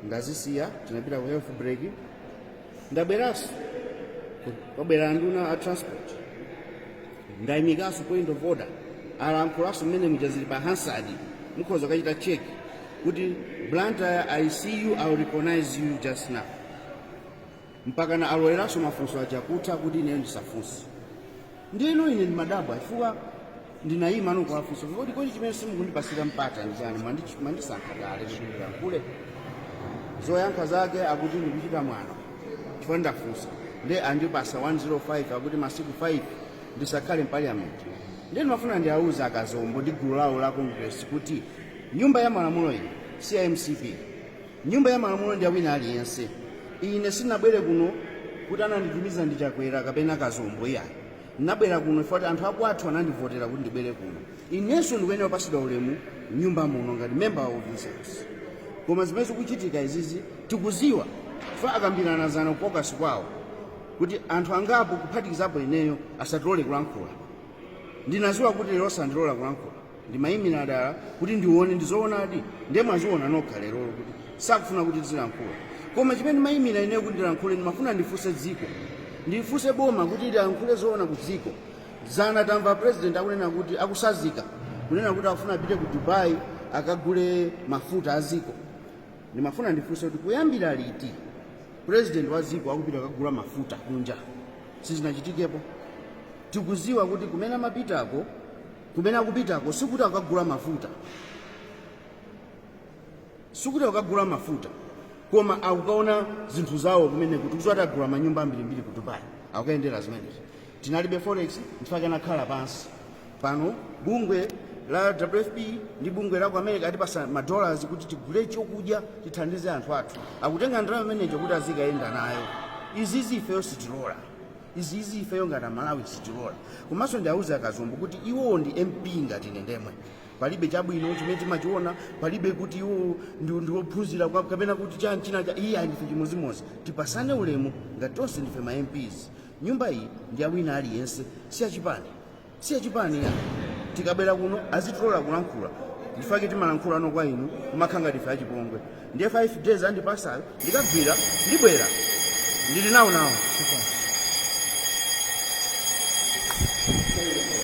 ndazisiya tinapita ku health break ndabweranso kwabwera anduna a transport ndayimikanso point of order alankhulanso mmene muja zili pa hansard mukhoza kachita check kuti blantyre i see you i will recognize you just now mpakana aloleranso mafunso achakutha kuti ineyo ndisafunse ndiye ine ndimadabwa chifukwa ndinayima nokuwafunsa kodi kodi chimene simukundipasira mpata ndi chani Mwandi- mwandisankha kale kuti ndilankhule zoyankha zake akuti ndikuchita mwano chifukwa ndafunsa nde andipasa 105 akuti masiku 5 ndisakhale mpaliyamenti nde ndimafuna ndiawuza akazombo ndi gulu lawo la congress kuti nyumba ya malamulo iyi si ya mcp Nyumba ya malamulo ndi awina aliyense. Ine sinabwere kuno kuti ananditumiza ndi Chakwera kapena Kazombo iyayi. Nabwera kuno chifukwa kuti anthu akwathu anandivotera kuti ndibwere kuno. Inenso ndikuyenera kupasidwa ulemu m'nyumba muno ngati member of this house. Koma zimene zikuchitika izizi tikuziwa chifukwa akambirana zana ku caucus kwawo kuti anthu angapo kuphatikizapo ineyo asatilole kulankhula. Ndinaziwa kuti lero sandilola kulankhula. ndimayimira dala kuti ndione ndizoonadi ndiye mwaziona nokha lerolo kuti sakufuna kuti tizilankhula koma chimene ndimayimira ineyo kuti ndilankhule ndimafuna ndifunse dziko ndifunse boma kuti lilankhule zoona ku dziko zana tamva president akunena kuti akusazika kunena kuti akufuna apite ku dubai akagule mafuta a dziko ndimafuna ndifunse kuti kuyambira liti president wa dziko akupita akagula mafuta kunja sizinachitikepo tikuziwa kuti kumene amapitako Kumene akupitako sikuti akukagula mafuta, sikuti akukagula mafuta, koma akukaona zinthu zawo kumeneko. Tikudziwa kuti agula manyumba ambirimbiri ku Dubai, akukayendera zimenezi. Tinalibe forex, nchifukwa anakhala pansi. Pano bungwe la WFP ndi bungwe la ku America atipasa ma dollars kuti tigule chokudya tithandize anthu athu, akutenga ndalama imeneyo kuti azikayenda nayo. Izizi ifeyo sitilola. izizi ifeyo ngati amalawi sitilola komanso ndiauze akazombo kuti iwowo ndi mp ngati ine ndemwe palibe chabwino chimene timachiona palibe kuti iwowo ndi- ndi ophunzira kwa- kapena kuti chani china cha iyayi ndife chimodzimodzi tipasane ulemu ngati tonse ndife ma mps nyumba iyi ndi yawina aliyense si yachipani si yachipani ya tikabwera kuno azitilola kulankhula ndichifukwa chake timalankhulano kwa inu kumakhala ngati ife achipongwe ndiye 5 days andipasayo ndikagwira ndibwera ndili nawo nawo